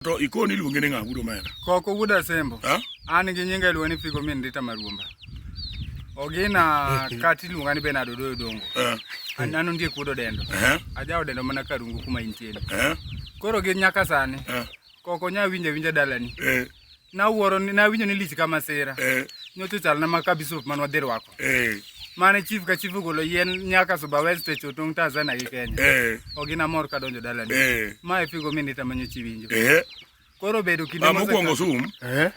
To ikoni iluonge ni ng'a wuod omera? Koko wuod Asembo. Ha? An gi nyinga iluonga ni Figo min Rita Maruomba. Ogina kati iluonga ni Bernardo Doyo Dongo. Eh. An nano ndie kuodo dendo. Eh. Ajawo dendo mana karungu kuma intie. Eh. Koro gi nyaka sani. Eh. Koko nya winja winja dalani. Eh. Na wuoro na winjo ni lich kama sira. Eh. Nyoto chal na makabisop manwa dhirwako. Eh. mane chief ka chief ogolo yien nyaka Suba West e Chotung Tanzania gi Kenya eh. ogina mor ka donjo dalani eh. ma e figo minit amanyo chi winjo eh. koro bedo kinde ah, mokwongo sum eh.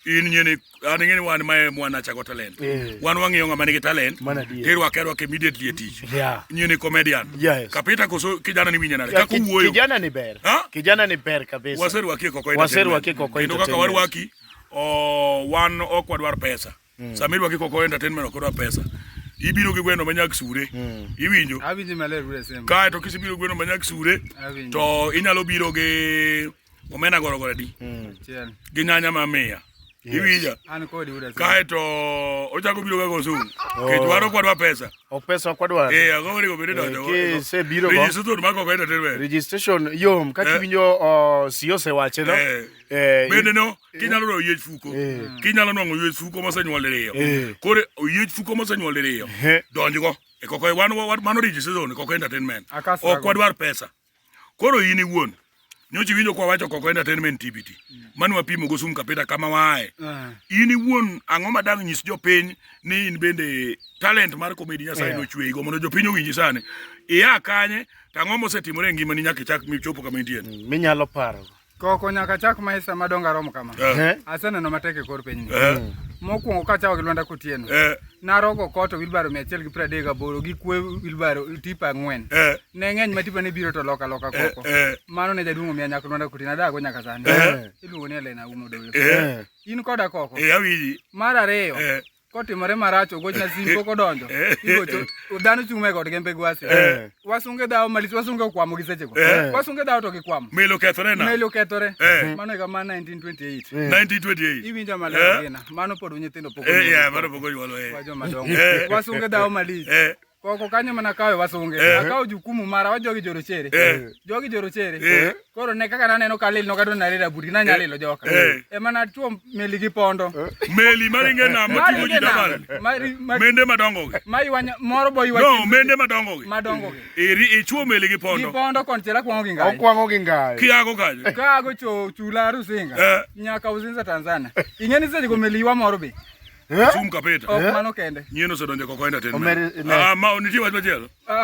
in nyeni an ng'eni wan mae mwana chako talent eh. wan wang'iyo ng'ama nigi talent tirwake arwake immediately e tich yeah. nyeni comedian yes. kapita koso kijana ni winye nade yeah, kaka uwuoyo kijana ni ber ha? kijana ni ber kabisa waserwaki koko waserwaki koko kendo kaka warwaki oh, wan ok wadwar pesa Mm. Sama idwa kiko ko entertainment ok odwa pesa. Ibiro gi gweno manyak sure. Mm. Iwinjo? Awinjo maler ure sema. Kae to kisibiro gweno manyak sure. Awinjo. To inyalo biro gi omena goro goro di. Mm. Chiel. Gi nyanya ma miya. Yes. Iwinja. An kodi ure sema. Kae to ochako biro ga go su. Oh. Ke dwaro kwadwa pesa. Ok pesa kwadwa. Eh, ago wori go bede donjo. Eh, ke se biro go. Registration ma ko entertainment. Registration yom kaki eh. winjo uh, siyose wache no. Eh. eh bende no. kinyalo dwa oyiech fuko kinyalo nwang'o oyiech fuko mosenyuol diriyo koro oyiech fuko mosenyuol diriyo donjgo e koko wan mano rich season e koko entertainment ok wadwar pesa koro in iwuon nyochi winjo kwa wacho koko entertainment tbt mm. mano wapimo go sum kapita kama wae eh. in iwuon ang'o madang nyis jopiny ni in bende talent mar komedi nyasaye yeah. nochweyi go mondo jopiny owinji sani iya kanye to ang'o mosetimore e ngimani nyaka ichak michopo kama intie mm, minyalo paro Koko nyaka chak maisa madongo aromo kama. Eh. Aseneno matek e kor pinyni. Eh. Mokwongo kachawo gi Lwanda Kotieno. Eh. Narogo koto wilbaro mia achiel gi piero adek gaboro gi kwe wilbaro tipa ang'wen. Eh. Ne ng'eny ma tipa ne biro to loka loka eh, koko. Eh. Mano ne jaduong' omiya nyaka Lwanda Kotieno adago nyaka sani. Eh. Iluongo ni Elena Umo Dolo. Eh. In koda koko. Eh, awinji. Mar ariyo. Eh. kotimore marach ogochna simu pok odonjo igocho dhano chung' e god gembe gwasi Eh. wasunge dhawo malich wasunge okwamo gi sechego Eh. wasunge dhawo to gikwamo melo kethore na meli okethore Eh. mano higa ma 1928 1928 iwinjo Eh. maler gina mano pod nyithindo pok Eh, yeah, mano pok onyuol, eh. wajo madongo Eh. wasunge dhawo malich Eh. koko kanyo mana kawe wasunge eh. akawo jukumu mara wa jogi jorochere eh. jogi jorochere eh. koro ne kaka naneno ka lil nokadwa nalil abuti nanya lilo joka ema natuo meli gi pondo meli maringe nam mating'o ji dabal mende madongogi moro bo no mende madongogi madongogi iri ichuo meli gi pondo gi pondo konchiel akwang'o gi ngai okwang'o gi ngai kiago kanyo kago cho chula rusinga nyaka uzinza tanzania ing'eni sechego meli ywa moro be Eh? Sum kapeta. Ok eh? mano kende. Nyieno sedonje koko enda ten. Ah, ma oniti wach machielo. Ah,